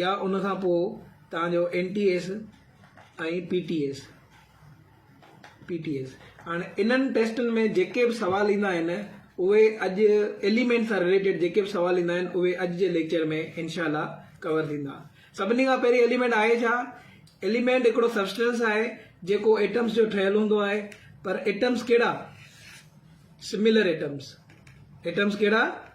يا ان کان پوء توهان جو N T S ۽ P T S P T S هاڻي انهن ٽيسٽن ۾ جيڪي به سوال ايندا آهن اهي اڄ ايليمينٽ سان رليٽيڊ جيڪي به سوال ايندا آهن اهي اڄ جي ليڪچر ۾ انشاء الله ڪور ٿيندا سڀني کان پهرين ايليمينٽ آهي ڇا ايليمينٽ هڪڙو سبسٽنس آهي جيڪو ايٽمس جو ٺهيل هوندو آهي پر ايٽمس ڪهڙا سميلر ايٽمس ايٽمس ڪهڙا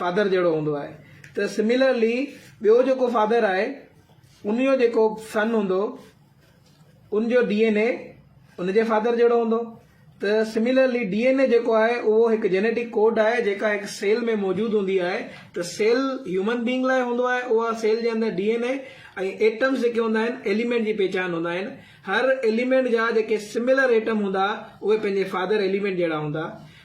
فادر جهڙو هوندو آهي ته سميلرلي ٻيو جيڪو فادر آهي ان جو جيڪو سن هوندو ان جو ڊي اين اي ان جي فادر جهڙو هوندو ته سميلرلي ڊي اين اي جيڪو آهي اهو هڪ جينيٽڪ ڪوڊ آهي جيڪا هڪ سيل ۾ موجود هوندي آهي ته سيل هيومن بينگ لاء هوندو آهي اها سيل جي اندر ڊي اين اي ۽ ايٽمس جيڪي هوندا آهن ايليمينٽ جي پهچان هوندا آهن هر ايليمينٽ جا جيڪي سميلر ايٽم هوندا اهي پنهنجي فادر ايليمينٽ جهڙا هوندا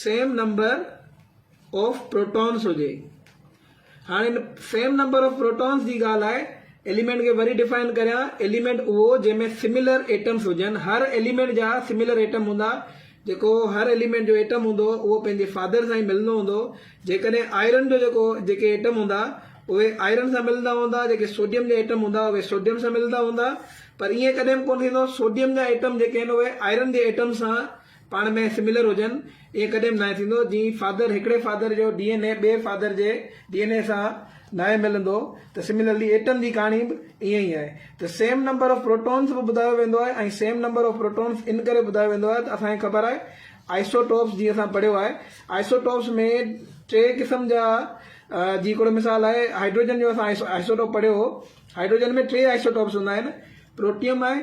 سيم نمبر آف پروٽونس هجي هاڻي ان سيم نمبر آف پروٽونس جي ڳالهه آهي ايليمينٽ کي وري ڊيفائن ڪريان ايليمينٽ اهو جنهن ۾ سميلر ايٽمس هجن هر ايليمينٽ جا سميلر ايٽم هوندا جيڪو هر ايليمينٽ جو ايٽم هوندو اهو پنهنجي فادر سان ئي ملندو هوندو جيڪڏهن آئرن جو جيڪو جيڪي ايٽم هوندا اهي آئرن سان ملندا هوندا جيڪي سوڊيم جا ايٽم هوندا اهي سوڊيم سان ملندا هوندا پر ائين ڪڏهن به ڪونه ٿيندو سوڊيم جا ايٽم جيڪي آهن اهي آئرن جي ايٽم سان پاڻ ۾ سميلر هجن ائين ڪڏهن به ناهي ٿيندو جي فادر هڪڙي فادر جو ڊي اين اي ٻئي فادر جي ڊي اين اي سان ناهي ملندو ته سميلرلي ايٽم جي ڪهاڻي به ائين ئي آهي ته سيم نمبر آف پروٽونز به ٻڌايو ويندو آهي ۽ سيم نمبر آف پروٽونز ان ڪري ٻڌايو ويندو آهي ته اسان کي خبر آهي آئسوٽوپس جي اسان پڙهيو آهي آئسوٽوپس ۾ ٽي قسم جا جي هڪڙو مثال آهي هائيڊروجن جو اسان آئسوٽوپ پڙهيو هو هائيڊروجن ۾ ٽي آئسوٽوپس هوندا آهن پروٽيم آهي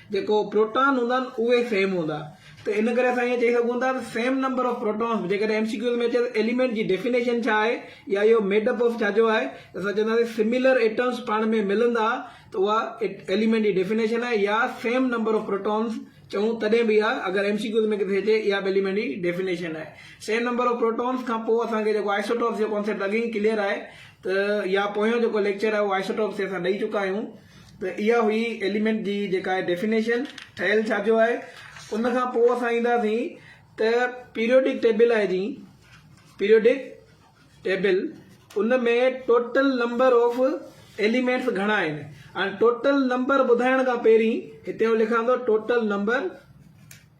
جيڪو پروٽان هوندا آهن اهي سيم هوندا ته ان ڪري اسان ائين چئي سگهون ٿا ته سيم نمبر آف پروٽانس جيڪڏهن ايم سي ڪيوز ۾ اچي ته ايليمينٽ جي ڊيفينيشن ڇا آهي يا اهو ميڊ اپ آف ڇا جو آهي ته اسان چونداسين سميلر ايٽمز پاڻ ۾ ملندا ته اها ايليمينٽ جي ڊيفينيشن آهي يا سيم نمبر آف پروٽانس چئون تڏهن به اها اگر ايم سي ڪيوز ۾ ڪٿي اچي اها به ايليمينٽ جي ڊيفينيشن آهي سيم نمبر آف پروٽانس کان پوء اسان کي جيڪو آئسوٽوپس جو ڪانسيپٽ اڳي ئي ڪليئر آهي ته يا پويون جيڪو ليڪچر آهي اهو آئسوٽوپس تي اسان ڏئي چڪا آهيون ته اها هئي ايليمينٽ جي جيڪا آهي ڊيفينيشن ٺهيل ڇا جو آهي ان کان پوء اسان اينداسين ته پيريوڊڪ ٽيبل آهي جي پيريوڊڪ ٽيبل ان ۾ ٽوٽل نمبر آف ايليمينٽس گهڻا آهن ۽ ٽوٽل نمبر ٻڌائڻ کان پهرين هتي آئون لکان ٿو ٽوٽل نمبر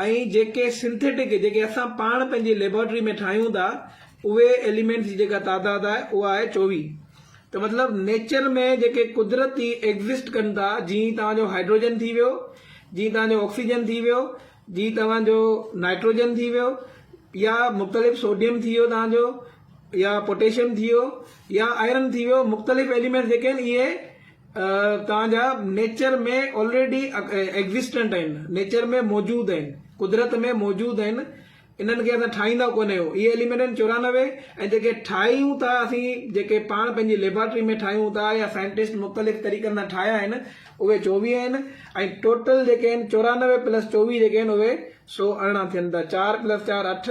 ۽ جيڪي سنٿيٽڪ جيڪي اسان پاڻ پنهنجي ليبارٽري ۾ ٺاهيون ٿا اهي ايليمينٽس جي جيڪا تعداد آهي اها آهي چوويهه ته مطلب نيچر ۾ جيڪي قدرتي ايگزسٽ ڪن ٿا جيئن توهان جو هائڊروجن ٿي ويو جيئن توهان جو آڪسيجن ٿي ويو جيئن توهان جو نائٽروجن ٿي ويو يا مختلف سوڊيم ٿي ويو توهان جو يا پوٽيشيم ٿي ويو يا آئرن ٿي ويو مختلف ايليمينٽس جيڪي آهن اهي تهانجا نيچر ۾ آلريڊي ايگزسٽنٽ آهن نيچر ۾ موجود آهن قدرت ۾ موجود آهن انهن کي اسان ٺاهيندا ڪونه آهيون اهي ايليمينٽ آهن چورانوي ۽ جيڪي ٺاهيون ٿا اسين جيڪي پاڻ پنهنجي ليبارٽري ۾ ٺاهيون ٿا يا سائنٽسٽ مختلف طريقن سان ٺاهيا آهن اهي چوويهه آهن ۽ ٽوٽل جيڪي آهن چورانوي پلس چوويهه جيڪي آهن اهي سو ارڙهن ٿين ٿا چار پلس چار اٺ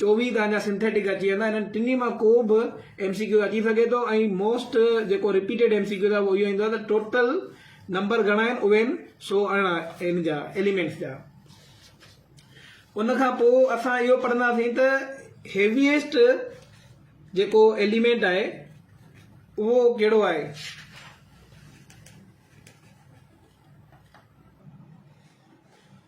چوويهه کان اڃا سنٿيٽڪ اچي ويندا انهن ٽنهي مان ڪو به ايم سي ڪيو اچي سگهي ٿو ۽ موسٽ جيڪو رپيٽيڊ ايم سي ڪيو اهو اهو ايندو آهي ته ٽوٽل نمبر گهڻا آهن اهي آهن سو ارڙهن ان جا ايليمينٽس جا ان کان پوء اسان اهو پڙهنداسين ته هيويسٽ جيڪو ايليمينٽ آهي اهو ڪهڙو آهي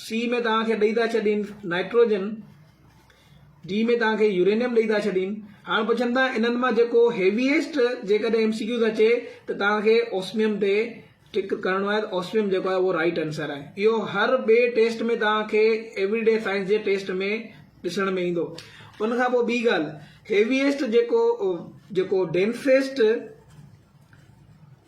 سي ۾ توهان کي ڏئي ٿا ڇڏين نائٽروجن، ڊي ۾ توهان کي يورينيم ڏئي ٿا ڇڏين. هاڻ پڇن ٿا انهن مان جيڪو هيويئسٽ جيڪڏهن ايم سي ڪيوز اچي ته توهان کي اوسميم تي ٽڪ ڪرڻو آهي ته اوسميم جيڪو آهي اهو رائٽ آنسر آهي. اهو هر ٻئي ٽيسٽ ۾ توهان کي ايوري ڊي سائنس جي ٽيسٽ ۾ ڏسڻ ۾ ايندو. ان کان پوء ٻي ڳالهه هيويئسٽ جيڪو جيڪو ڊينسيسٽ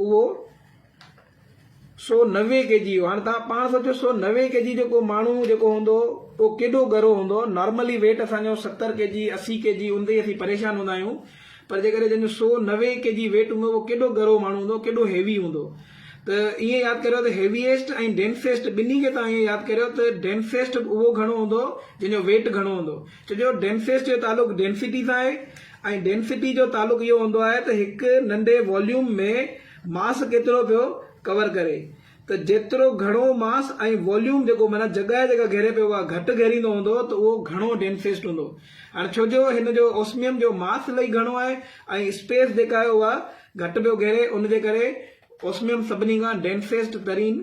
اهو سو نوي ڪي جي هو. هاڻ توهان پاڻ سوچيو سو نوي ڪي جي جو ڪو ماڻهو جيڪو هوندو اهو ڪيڏو ڳرو هوندو. نارملي ويٽ اسان جو ستر ڪي جي اسي ڪي جي ان تي ئي اسين پريشان هوندا آهيون پر جيڪڏهن جنهن جو سو نوي ڪي جي ويٽ هوندو اهو ڪيڏو ڳرو ماڻهو هوندو ڪيڏو هيوي هوندو ته ائين ياد ڪريو ته هيويئسٽ ۽ ڊينسيسٽ ٻنهي کي توهان ائين ياد ڪريو ته ڊينسيسٽ اهو گهڻو هوندو جنهن جو ويٽ گهڻو هوندو ڇو جو ڊينسيسٽ جو تعلق ڊينسٽي سان آهي ۽ ڊينسٽي جو تعلق اهو هوندو آهي ته هڪ ننڍي واليوم ۾ ماس ڪيترو پيو ڪور ڪري ته جيترو گهڻو ماس ۽ واليوم جيڪو معنيٰ جڳهه جيڪا گهيري پيو اها گهٽ گهيريندو هوندو ته اهو گهڻو ڊينسٽ هوندو هاڻي ڇو جو هن جو اوسميم جو ماس الائي گهڻو آهي ۽ اسپيس جيڪا آهي اها گهٽ پيو گهيري ان جي ڪري اوسميم سڀني کان ڊينسٽ ترين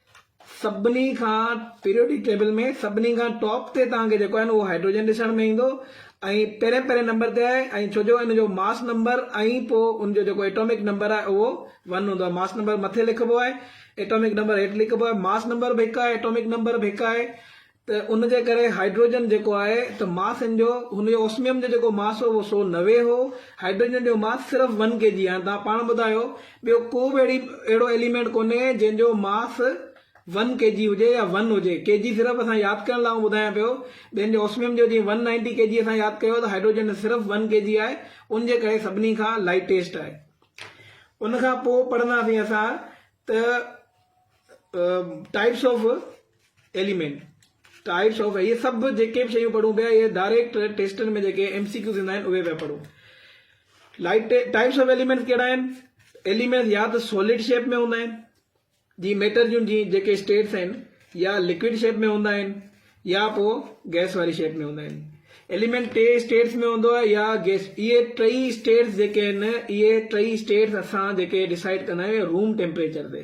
سڀني کان پيريوڊڪ ٽيبل ۾ سڀني کان ٽاپ تي توهان کي جيڪو آهي نه اهو هائڊروجن ڏسڻ ۾ ايندو ۽ پهرين پهرين نمبر تي آهي ۽ ڇو جو ان جو ماس نمبر ۽ پوء ان جو جيڪو ايٽامڪ نمبر آهي اهو ون هوندو آهي ماس نمبر مٿي لکبو آهي ايٽامڪ نمبر هيٺ لکبو آهي ماس نمبر به هڪ آهي ايٽامڪ نمبر به هڪ آهي ته ان جي ڪري هائيڊروجن جيڪو آهي ته ماس ان جو هن جو اوسميم جو جيڪو ماس هو اهو سو نوي هو هائيڊروجن جو ماس صرف ون ڪي جي هاڻي توهان پاڻ ٻڌايو ٻيو ڪو به اهڙي اهڙو ايليمينٽ ڪونهي جنهن جو ماس ون ڪي جي هجي يا ون هجي ڪي جي صرف اسان ياد ڪرڻ لاء آئون ٻڌايان پيو ٻين جو اوسميم جو جيئن ون نائنٽي ڪي جي اسان ياد ڪيو ته هائيڊروجن جو صرف ون ڪي جي آهي ان جي ڪري سڀني کان لائٽيسٽ آهي ان کان پوء پڙهنداسين اسان ته types of element, types of اهي سڀ جيڪي به شيون پڙهون پيا اهي ڊائريڪٽ ٽيسٽن ۾ جيڪي ايم سي ڪيوز ايندا آهن اهي پيا پڙهون. لائٽ ٽائيپس آف ايليمينٽس ڪهڙا آهن؟ ايليمينٽس يا ته سوليڊ شيپ ۾ هوندا آهن جي ميٽر جون جي جيڪي اسٽيٽس آهن يا لڪوڊ شيپ ۾ هوندا آهن يا پو گيس واري شيپ ۾ هوندا آهن. ايليمينٽ ٽي اسٽيٽس ۾ هوندو آهي يا گيس اهي ٽئي اسٽيٽس جيڪي آهن اهي ٽئي اسٽيٽس اسان جيڪي ڊسائيڊ ڪندا آهيون روم ٽيمپريچر تي.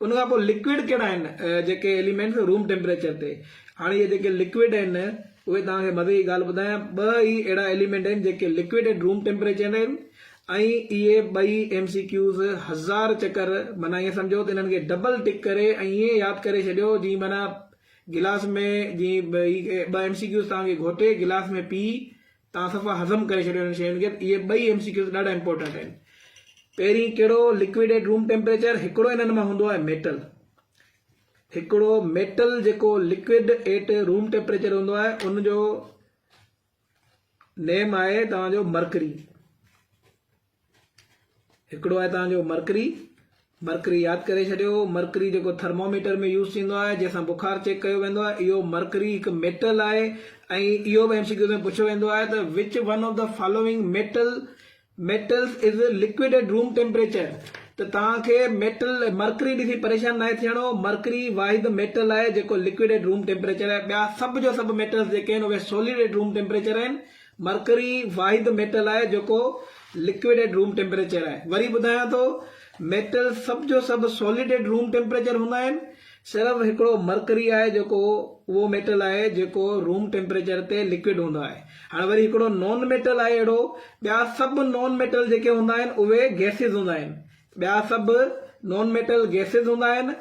ان کان پوء لڪوڊ ڪهڙا آهن جيڪي ايليمينٽس روم ٽيمپريچر تي هاڻي اهي جيڪي لڪوڊ آهن اهي توهان کي مزي جي ڳالهه ٻڌايان ٻه ئي اهڙا ايليمينٽ آهن جيڪي لڪوڊ ايٽ روم ٽيمپريچر آهن ۽ اهي ٻئي ايم سي ڪيوز هزار چڪر معنيٰ ائين سمجهو ته انهن کي ڊبل ٽڪ ڪري ۽ ائين ياد ڪري ڇڏيو جي معنيٰ گلاس ۾ جي ٻه ايم سي ڪيوز توهان کي گهوٽي گلاس ۾ پي توهان صفا هضم ڪري ڇڏيو انهن شين کي اهي ٻئي ايم سي ڪيوز ڏاڍا امپورٽنٽ آهن پهرين ڪهڙو لڪوڊ ايٽ روم ٽيمپريچر هڪڙو انهن مان هوندو آهي ميٽل هڪڙو ميٽل جيڪو لڪوڊ ايٽ روم ٽيمپريچر هوندو آهي ان جو نيم آهي توهان جو مرڪري هڪڙو آهي توهان جو مرڪري مرڪري ياد ڪري ڇڏيو مرڪري جيڪو ٿرموميٽر ۾ يوز ٿيندو آهي جنهن سان بخار چيڪ ڪيو ويندو آهي اهو مرڪري هڪ ميٽل آهي ۽ اهو به ايم سي ڪيو ۾ پڇيو ويندو آهي ته which one of the following metal metals is liquid at room temperature ته توهان کي ميٽل مرڪري ڏسي پريشان ناهي ٿيڻو مرڪري واحد ميٽل آهي جيڪو لڪوڊ ايٽ روم ٽيمپريچر آهي ٻيا سڀ جو سڀ ميٽلز جيڪي آهن اهي سوليڊ ايٽ روم ٽيمپريچر آهن مرڪري واحد ميٽل آهي جيڪو لڪوڊ ائٽ روم ٽيمپريچر آهي. وري ٻڌايان ٿو ميٽل سڀ جو سڀ سولڊ ائٽ روم ٽيمپريچر هوندا آهن. صرف هڪڙو مرڪري آهي جيڪو اهو ميٽل آهي جيڪو روم ٽيمپريچر تي لڪوڊ هوندو آهي. هاڻ وري هڪڙو نان ميٽل آهي اهڙو. ٻيا سڀ نان ميٽل جيڪي هوندا آهن اهي گئسز هوندا آهن. ٻيا سڀ نان ميٽل گئسز هوندا آهن.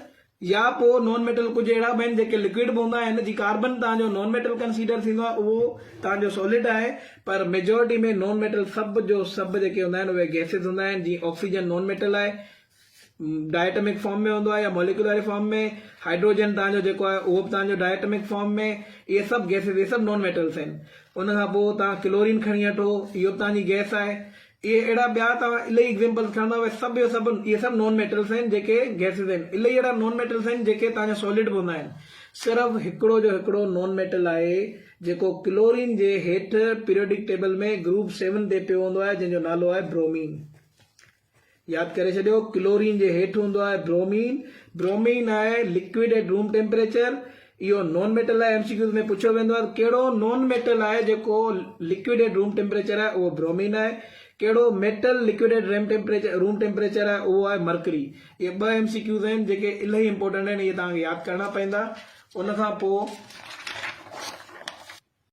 يا پوء نان ميٽل ڪجهه اهڙا به آهن جيڪي لڪوئڊ به هوندا آهن جي ڪاربن توهان جو نان ميٽل ڪنسيڊر ٿيندو آهي اهو توهان جو سولڊ آهي پر ميجارٽي ۾ نان ميٽل سڀ جو سڀ جيڪي هوندا آهن اهي گئسز هوندا آهن جيئن آڪسيجن نان ميٽل آهي ڊائي اٽمڪ فارم ۾ هوندو آهي يا موليڪيولاري فارم ۾ هائيڊروجن توهان جو جيڪو آهي اهو به توهان جو ڊائي اٽمڪ فارم ۾ اهي سڀ گئسز اهي سڀ نان ميٽلس آهن ان کان پوء توهان ڪلورين کڻي اٺو اهو به توهان جي گئس آهي اهي اهڙا ٻيا توهان الائي ايگزيمپلز کڻندا اهي سڀ جو سڀ اهي سڀ نون ميٽلز آهن جيڪي گيسز آهن الائي اهڙا نون ميٽلز آهن جيڪي توهان جا سولڊ به هوندا آهن صرف هڪڙو جو هڪڙو نون ميٽل آهي جيڪو ڪلورين جي هيٺ پيريوڊڪ ٽيبل ۾ گروپ سيون تي پيو هوندو آهي جنهن جو نالو آهي برومين ياد ڪري ڇڏيو ڪلورين جي هيٺ هوندو آهي برومين برومين آهي لڪوڊ ايٽ روم ٽيمپريچر اهو نون ميٽل لاء ايم سي ڪيوز ۾ پڇيو ويندو آهي ته ڪهڙو نون ميٽل آهي جيڪو لڪوڊ ايٽ روم ٽيمپريچر آهي اهو برومين آهي ڪهڙو metal liquid at room temperature room temperature آهي اهو آهي مرڪري اهي ٻه ايم سي ڪيوز آهن جيڪي الائي امپورٽنٽ آهن اهي توهان کي ياد ڪرڻا پوندا ان کان پوء